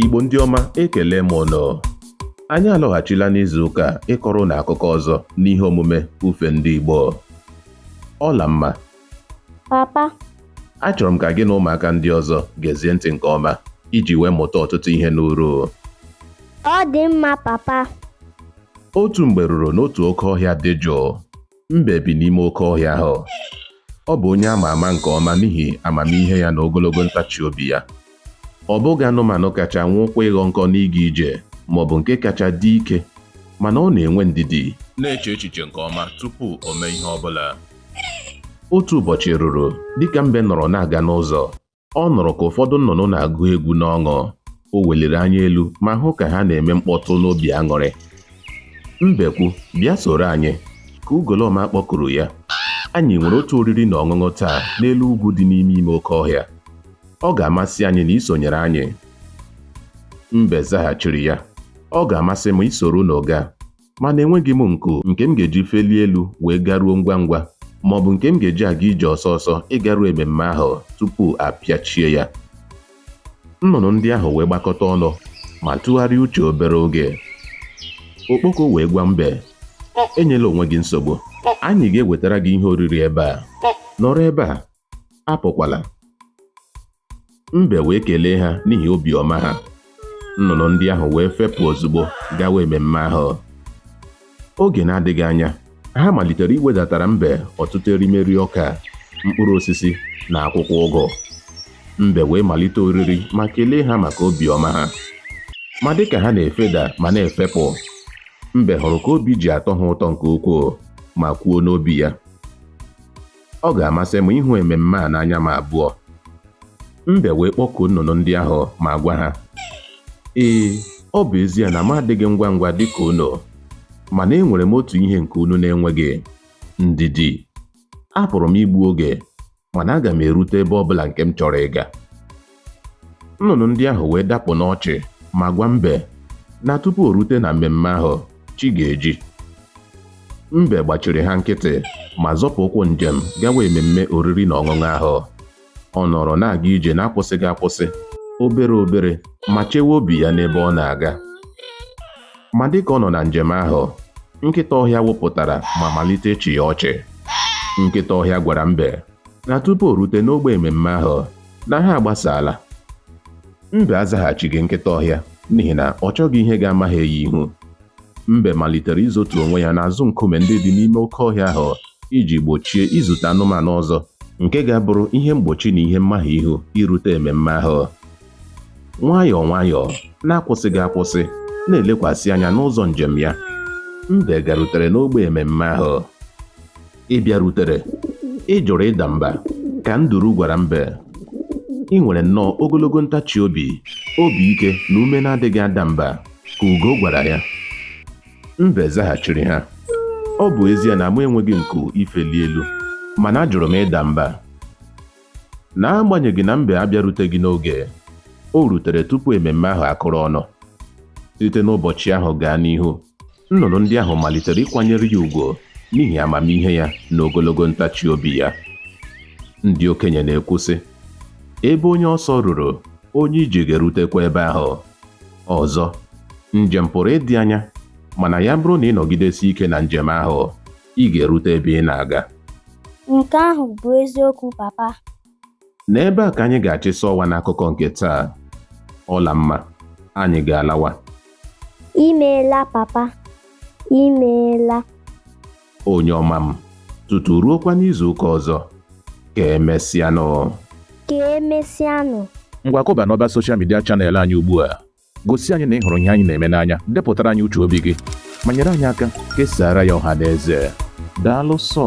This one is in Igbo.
Igbo ndị ọma ekele m unu anyị alọghachila n'izu ụka a ịkọrọ unu akụkọ ọzọ n'ihe omume ufe ndị Igbo Ọlamma papa achọrọ m ka gị na ụmụaka ndị ọzọ gezie ntị nke ọma iji wee mụta ọtụtụ ihe n'uru ọ dị mma papa otu mgbe ruru n'otu oke ọhịa dị jụụ Mbe bi n'ime oke ọhịa ahụ. Ọ bụ onye a ma ama nke ọma n'ihi amamihe ya na ogologo ntachi obi ya. Ọ bụghị anụmanụ kacha nwụkwa ịghọ nkọ n'ịga ije ma ọ bụ nke kacha dị ike, mana ọ na-enwe ndidi. Na-eche echiche nke ọma tupu o mee ihe ọ bụla. Otu ụbọchị ruru, dịka mbe nọrọ na-aga n'ụzọ, Ọ nụrụ ka ụfọdụ nnụnụ na-agụ egwu n'ọṅụ. O weliri anya elu ma hụ ka ha na-eme mkpọtụ n'obi aṅụrị. Mbekwu, bịa soro anyị, ka ugolọma kpọkuru ya. Anyị nwere otu oriri na ọṅụṅụ taa n'elu ugwu dị n'ime ime oke ọhịa. Ọ ga-amasị anyị na i sonyere anyị. Mbe zaghachiri ya, Ọ ga-amasị m isoro unu gaa. mana enweghị m nku nke m ga-eji felie elu wee garuo ngwa ngwa ma ọ bụ nke m ga-eji aga ije ọsọ ọsọ ịgaru ememme ahụ tupu a pịachie ya nnụnụ ndị ahụ wee gbakọta ọnụ ma tụgharịa uche obere oge okpoko wee gwa mbe enyela onwe gị nsogbu anyị ga-ewetara gị ihe oriri ebe a nọrọ ebe a apụkwala. Mbe wee kelee ha n'ihi obiọma ha. Nnụnụ ndị ahụ wee fepụ ozugbo gawa ememme ahụ. Oge na-adịghị anya, ha malitere iwedatara mbe ọtụtụ erimeri ọka, mkpụrụ osisi, na akwụkwọ ụgụ. Mbe wee malite oriri ma kelee ha maka obiọma ha. Ma dịka ha na-efeda ma na-efepụ, Mbe hụrụ ka obi ji atọ ha ụtọ nke ukwuu ma kwuo n'obi ya. Ọ ga-amasị m ịhụ ememme a n'anya m abụọ. Mbe wee kpọkuo nnụnụ ndị ahụ ma gwa ha, Ee, ọ bụ ezie na m adịghị ngwa ngwa dị ka unu, mana enwere m otu ihe nke unu na-enweghị, ndidi. Apụrụ m igbu oge, mana aga m erute ebe ọ bụla nke m chọrọ ịga. nnụnụ ndị ahụ wee dapụ n'ọchị ma gwa mbe na tupu o rute na mmemme ahụ chi ga-eji mbe gbachiri ha nkịtị ma zọpụ ụkwụ njem gawa ememme oriri na ọṅụṅụ ahụ ọ nọrọ na-aga ije na-akwụsịghị akwụsị obere obere ma chewe obi ya n'ebe ọ na-aga ma dịka ọ nọ na njem ahụ nkịta ọhịa wụpụtara ma malite ịchị ya ọchị nkịta ọhịa gwara mbe na tupu o rute n'ogbe ememme ahụ na ha agbasaala mbe azaghachighị nkịta ọhịa n'ihi na ọ chọghị ihe ga-amahie ya ihu mbe malitere izotu onwe ya n'azụ nkume ndị dị n'ime oke ọhịa ahụ iji gbochie izute anụmanụ ọzọ nke ga-abụrụ ihe mgbochi na ihe mmahie ihu irute ememme ahụ nwayọọ nwayọọ na-akwụsịghị akwụsị na-elekwasị anya n'ụzọ njem ya mbe garutere n'ọgbọ ememme ahụ Ị bịarutere, ị jụrụ ịda mba, ka nduru gwara mbe. I nwere nnọọ ogologo ntachi obi, obi ike na ume na-adịghị ada mba, ka ugo gwara ya. Mbe zaghachiri ha, Ọ bụ ezie na mụ enweghị nku ifeli elu, mana ajụrụ m ịda mba. N'agbanyeghị na mbe abịaruteghị n'oge, o rutere tupu ememme ahụ akụrụ ọnụ. Site n'ụbọchị ahụ gaa n'ihu, nnụnụ ndị ahụ malitere ịkwanyere ya ugwu n'ihi amamihe ya na ogologo ntachi obi ya. Ndị okenye na-ekwu, sị, Ebe onye ọsọ ruru, onye ije ga-erutekwa ebe ahụ. Ọzọ, njem pụrụ ịdị anya, mana ya bụrụ na ị nọgidesie ike na njem ahụ, ị ga-erute ebe ị na-aga. Nke ahụ bụ eziokwu, Papa. N'ebe a ka anyị ga-achịsa ọwa n'akụkọ nke taa. Ọlamma, anyị ga-alawa. Imeela, Papa. Imeela. Onye ọma m, tutu ruokwa n'izu ụka ọzọ, ka emesịanụ. Ka emesịanụ. Ngwa kụba n'ọba soshal midia chanel anyị ugbu a Gosi anyị na ị hụrụ ihe anyị na-eme n'anya, depụtara anyị uche obi gị, ma nyere anyị aka kesaara ya ọha na eze. Daalụ sọ.